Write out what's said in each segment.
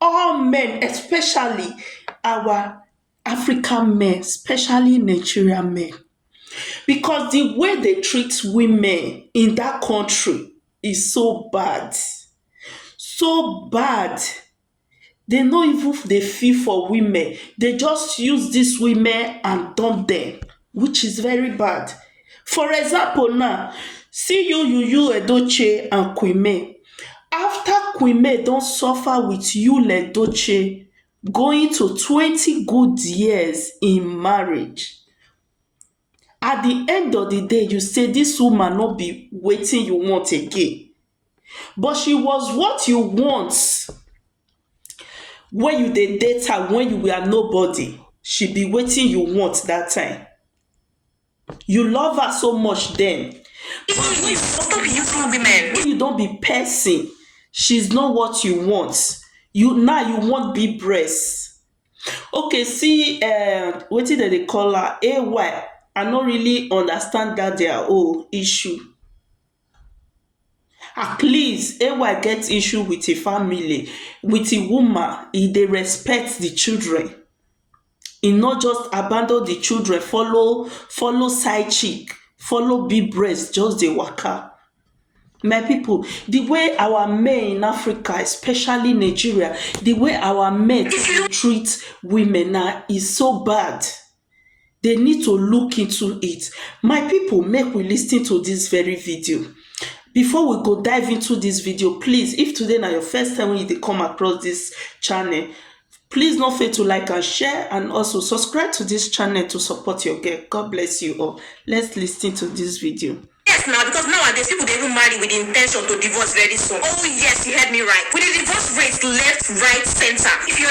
all men especially our African men especially Nigeria men becos di way dey treat women in dat country is so bad so bad dey no even dey feel for women dey just use dis women and dump dem. which is very bad for example now see you you you edochie and queen may after queen may don suffer with yul edochie going to twenty good years in marriage at di end of di day you say dis woman no be wetin you want again but she was what you want wen you dey date her wen you were nobody she be wetin you want dat time you love her so much den wen you don be person she is not what you want you now you want big breast ok see um wetin dem dey call am AY I no really understand dat their own issue Ah please AY get issue with him family with him woman he dey respect the children he no just abandon the children follow follow side chick follow big breast just dey waka my people the way our men in Africa especially Nigeria the way our men dey treat women na e so bad. dey need to look into it my people make we lis ten to this very video before we go dive into this video please if today na your first time when you dey come across this channel please no fail to like and share and also subscribe to this channel to support your girl god bless you all let's lis ten to this video. Yes, now because nowadays people they even marry with the intention to divorce very soon. Oh yes, you heard me right. With the divorce rates left, right, center. If you're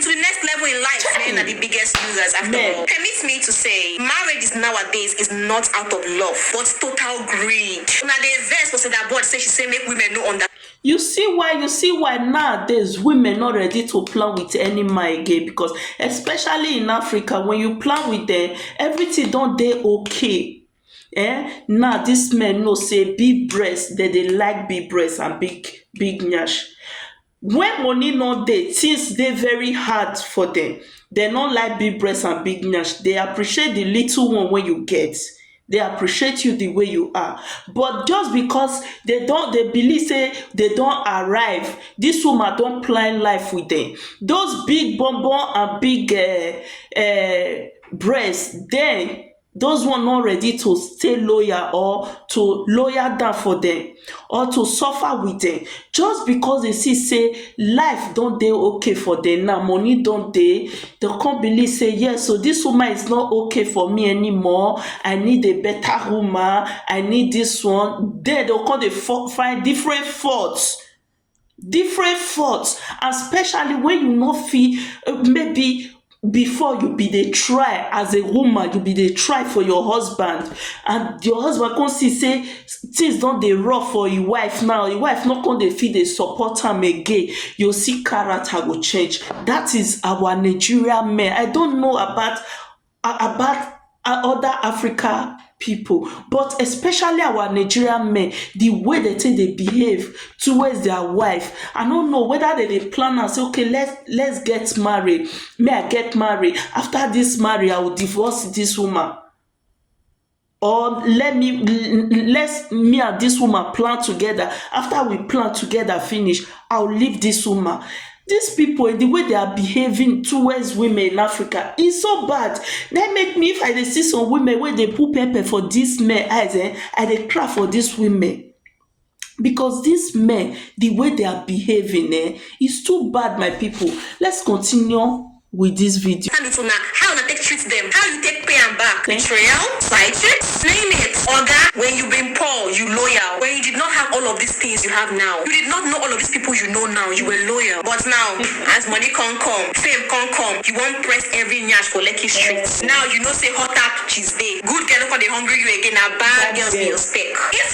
to the next level in life, men are the biggest losers after Men. all. Permit me to say, marriages nowadays is not out of love, but total greed. Una dey vex for Seda Board say she say make women no under you see why you see why nowadays women not ready to plan with any man again because especially in africa when you plan with them everything don dey okay eh now this men know say big breast dem dey like big breast and big big nyash When money no dey, things dey very hard for dem. They no like big breast and big nyash. They appreciate the little one wey you get. They appreciate you the way you are. But just because they don they believe say they don arrive, this woman don plan life with dem. Those big bum bum and big um breast dem those one no ready to stay loyal or to loyal down for dem or to suffer with dem just because they see say life don dey okay for dem now money don dey they come believe say yes so this woman is not okay for me anymore i need a better woman i need this one then they come dey find different faults different faults and specially wen you no fit maybe before you be dey try as a woman you be dey try for your husband and your husband come see sey things don dey rough for im wife now, im wife no come dey fit dey support am again you go see character go change dat is our Nigeria men I don't know about about other Africa pipu but especially our Nigerian men de way dem take dey behave towards their wife I no know whether dem dey plan am sey okay let's get married make I get married after dis marriage I will divorce dis woman or let me let me and this woman plan together after we plan together finish i will leave this woman these people the way they are behaving towards women in africa is so bad They make me if i dey see some women wey dey put pepper for this men eyes eh i dey cry for these women because dis men di way they are behaving eh is too bad my people let's continue with this video. hand it to una how una take treat them how you take pay am back Thank betrayal side chicks name it oga when you been poor you loyal when you did not have all of these things you have now you did not know all of these people you know now you were loyal but now as money come come fame come come you wan press every nyash for lekki street now you know say hot tap she's babe good girl no come dey hungry you again na bad girls be your spec if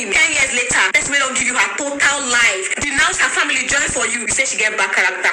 you ten years later person wey don give you her total life denounce her family join for you you say she get bad character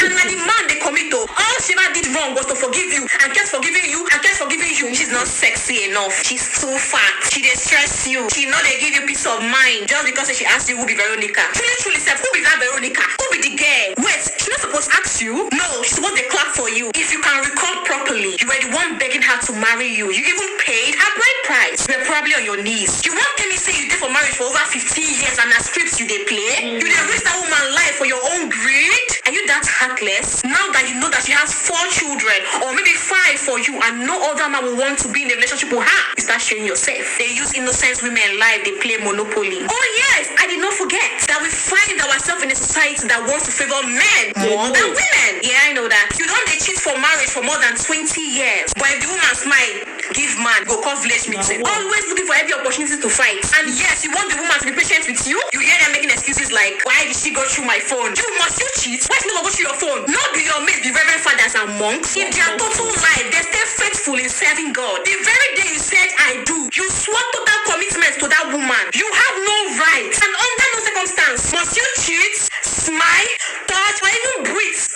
and na the man dey commit o all she ever did wrong was to forgive you and kept forgiving you and kept forgiving you she's not sexy enough she's too fat she dey stress you she no dey give you peace of mind just because say she ask you who be Veronica truly truly sef who be that Veronica who be the girl wait she no suppose ask you no she suppose dey clap for you if you can recall properly you were the one begging her to to marry you, you even paid her bride price, you were probably on your knees, you wan tell me say you dey for marriage for over fifteen years and na script you dey play, you dey risk that woman life for your own greed, are you that heartless, now that you know that she has four children or maybe five for you and no other man will want to be in a relationship with her, you start shame yourself, dey use innocent women life dey play monopoly, oh yes I did not forget that we find ourself in a society that wants to favour men more than women, yeah I know that, you don dey cheat for marriage for more than twenty. three years but if the woman smile give man go call village meeting always looking for every opportunity to fight and yes you want the woman to be patient with you you hear them making excuses like why did she go through my phone you must you cheat why she no go go through your phone no be your mate be reverend fathers and monks in their total life they stay faithful in serving God the very day you said I do you swore total commitment to that woman you have no right and under no circumstance must you cheat smile touch or even breathe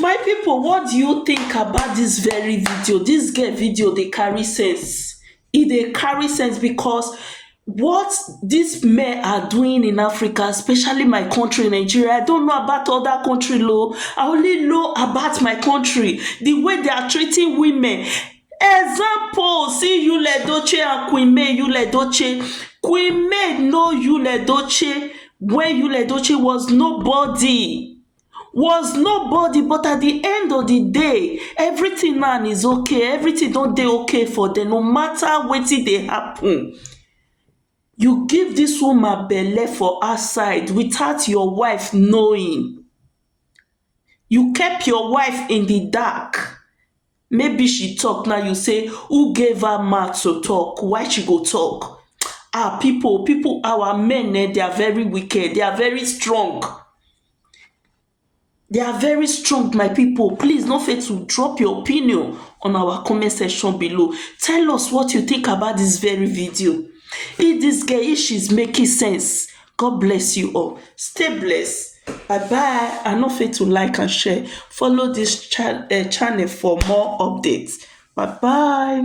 My pipu what do you think about dis very video, dis girl video dey carry sense, e dey carry sense because what dis men are doing in Africa especially my country Nigeria I don't know about other country oo, I only know about my country de way they are treating women Example, see Yul Edochie and Queen May Yul Edochie. Queen May know Yul Edochie when Yul Edochie was nobody was nobody but at the end of the day everything now is okay everything don dey okay for them no matter wetin dey happen you give this woman belle for outside without your wife knowing you kept your wife in the dark Maybe she talk now you say who gave her mouth to talk why she go talk ah people people our men eh they are very wicked they are very strong they are very strong my people please no fail to drop your opinion on our comment section below tell us what you think about this very video if this girl if she's making sense God bless you all stay blessed bye bye and no forget to like and share follow this channel for more updates bye bye